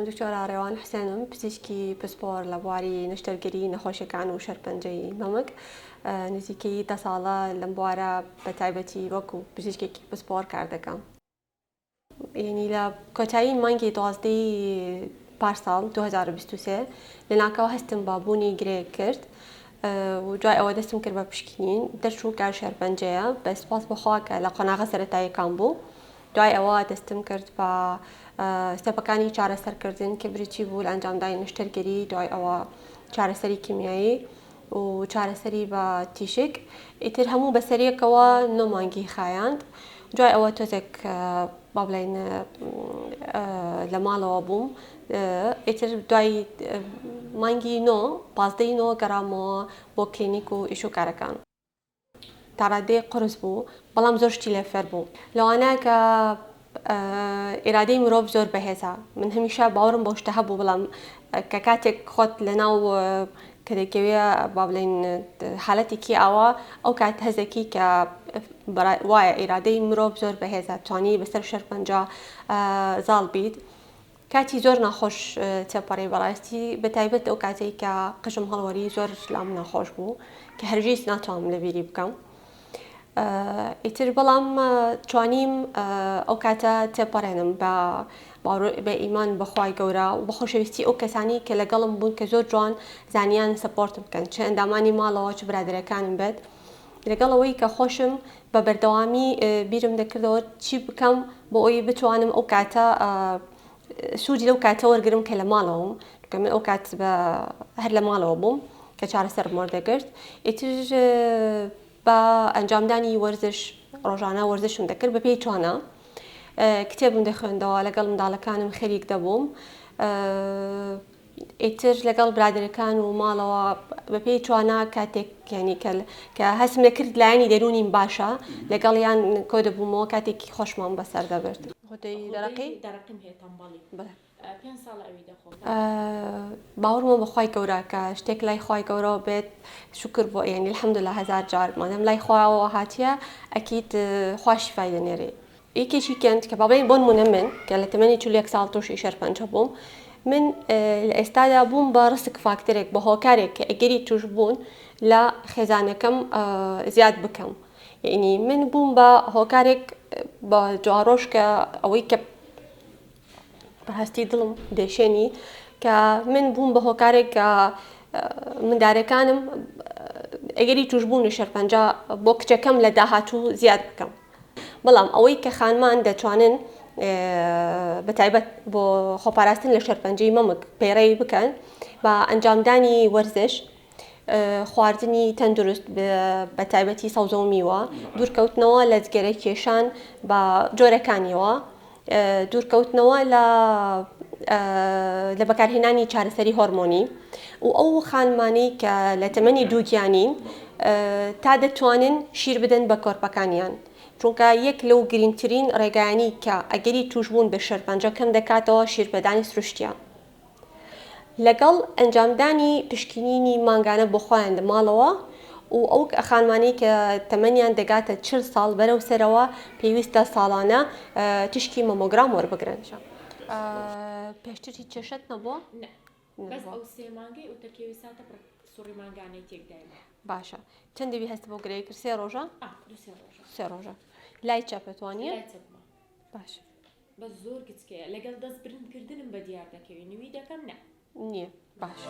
دکتۆر ئارێوان حسێنم پزیشکی پسپۆر لە بواری نشتەرگەری نەخۆشیەکان و شەرپەنجەی مەمک نزیکەی دە ساڵە لەم بوارە بە تایبەتی وەکو پزیشکێکی پسپۆر کار دەکەم یەنی لە کۆتایی مانگی دوازدە ی پارساڵ دوو هەزار و بیست و سێ لەناکاو هەستم بە بوونی گرێیەک کرد و دوای ئەوە دەستم کرد بە پشکنین دەرچوو کە شێرپەنجەیە بە سوپاس بەخوا کە لە قۆناغە سەرەتاییەکان بوو دوای ئەوە دەستم کرد بە ستێپەکانی چارەسەرکردن کە بریتی بوو لە ئەنجامدانی نەشتەرگەری دوای ئەوە چارەسەری کیمیایی و چارەسەری بە تیشک ئیتر هەموو بەسەریەکەوە نۆ مانگی خایاند دوای ئەوە تۆزێک بابلین لە ماڵەوە بووم ئیتر دوای مانگی نۆ پازدەی نۆ گەڕامەوە بۆ کلینیک و ئیش و کارەکان تاڕادەیەک قورس بوو بەڵام زۆر شتی لێ فێر بوو لەوانە کە ئێرادەی مرۆڤ زۆر بەهێزە من هەمیشە باوەڕم بۆ شتە هەبوو بەڵام کە کاتێک خۆت لەناو کە دەکەوێ با بڵێن حالەتێکی ئاوا ئەو کات هەزەکی کە وایە ئیرادەی مرۆڤ زۆر بەهێزە توانی بەسەر شەرپەنجە زاڵ بیت کاتی زۆر ناخۆش تێپەڕی بەڕاستی بەتایبەت ئەو کاتێک کە قژم هەڵوەری زۆر لام ناخۆش بوو کە هەرگیز ناتوانم لەبیری بکەم ئیتر بەڵام توانیم ئەو کاتە تێپەڕێنم بە بە ئیمان بەخوای گەورە و بە خۆشەویستی ئەو کەسانی کە لەگەڵم بوون کە زۆر جوان زانیان سپۆرت بکەن چ ئەندامانی ماڵەوە چ برادەرەکانم بێت لەگەڵ ئەوەی کە خۆشم بە بەردەوامی بیرم دەکردەوە چی بکەم بۆ ئەوی بتوانم ئەو کاتە سوودی لەو کاتە وەرگرم کە لە ماڵەوەم کە من ئەو کات هەر لە ماڵەوە بووم کە چارەسەرم وەردەگرت ئیتر بە ئەنجامدانی وەرزش ڕۆژانە وەرزشم دەکرد بە پێی توانە کتێبم دەخوێندەوە لەگەڵ منداڵەکانم خەریک دەبووم ئیتر لەگەڵ برادەرەکان و ماڵەوە بەپێی توانا کاتێک یعنی کە کە هەستم دەکرد لایەنی دەروونیم باشە لەگەڵیان کۆ دەبوومەوە کاتێکی خۆشمان بەسەر دەبرد خۆتەی دەرەقی دەرەقیم هەیە تەمبەڵی بەڵێ پێنج ساڵە ئەوی دەخۆم باوەڕمە بەخوای گەورە کە شتێک لای خوای گەورەوە بێت شکر بۆ یعنی الحمدللە هەزار جار مادەم لای خواوە هاتیە ئەکید خوا شیفای دەنێرێ یەکێکی کەند کە بەڵێ بۆنمونە من کە لە تەمەنی چل و یەک ساڵ تۆشی شەرپەنجە بووم من لە ئێستادا بووم بە ڕسک فاکتەرێک بە هۆکارێک کە ئەگەری توشبوون لە خێزانەکەم زیاد بکەم یعنی من بووم بە هۆکارێک بە جوارۆژ کە ئەوەی کە بەهستی دڵم دێشێنی کە من بووم بە هۆکارێک کە مندارەکانم ئەگەری توشبوون و شەرپەنجا بۆ کچەکەم لە داهاتوو زیاد بکەم بەڵام ئەوەی کە خانمان دەتوانن بە تایبەت بۆ خۆپاراستن لە شەرپەنجەی مەمک پەیڕەوی بکەن بە ئەنجامدانی وەرزش خواردنی تەندروست بە تایبەتی سەوزە و میوە دوورکەوتنەوە لە جگەرە کێشان بە جۆرەکانیەوە دوورکەوتنەوە لە لە بەکارهێنانی چارەسەری هۆرمۆنی و ئەو خانمانەی کە لە تەمەنی دووگیانین تا دەتوانن شیر بدەن بە کۆرپەکانیان چونکە یەک لەو گرنگترین ڕێگایانی کە ئەگەری توشبوون بە شێرپەنجە کەم دەکاتەوە شیرپێدانی سروشتیە. لەگەڵ ئەنجامدانی پشکینینی مانگانە بۆ خۆیان لە ماڵەوە و ئەو خانمانەی کە تەمەنیان دەگاتە چل ساڵ بەرەو سەرەوە پێویستە ساڵانە تیشکی مەمۆگرام وەربگرن. پێشتر هیچ کێشەت نەبووە؟ نە بەس ئەو سێ مانگەی ئەو تەرکێوی ساتە پڕ سوڕی مانگانەی تێک دایمە باشە چەند دەوی هەست بۆ گرەی کرد سێ ڕۆژە سێ ڕۆژە لای چەپەتوانە باش بەس زۆر گچکەیە لەگەل دەست برند کردنم بە دیار دەکەوی نوی دەکەم نا. نیە باشە.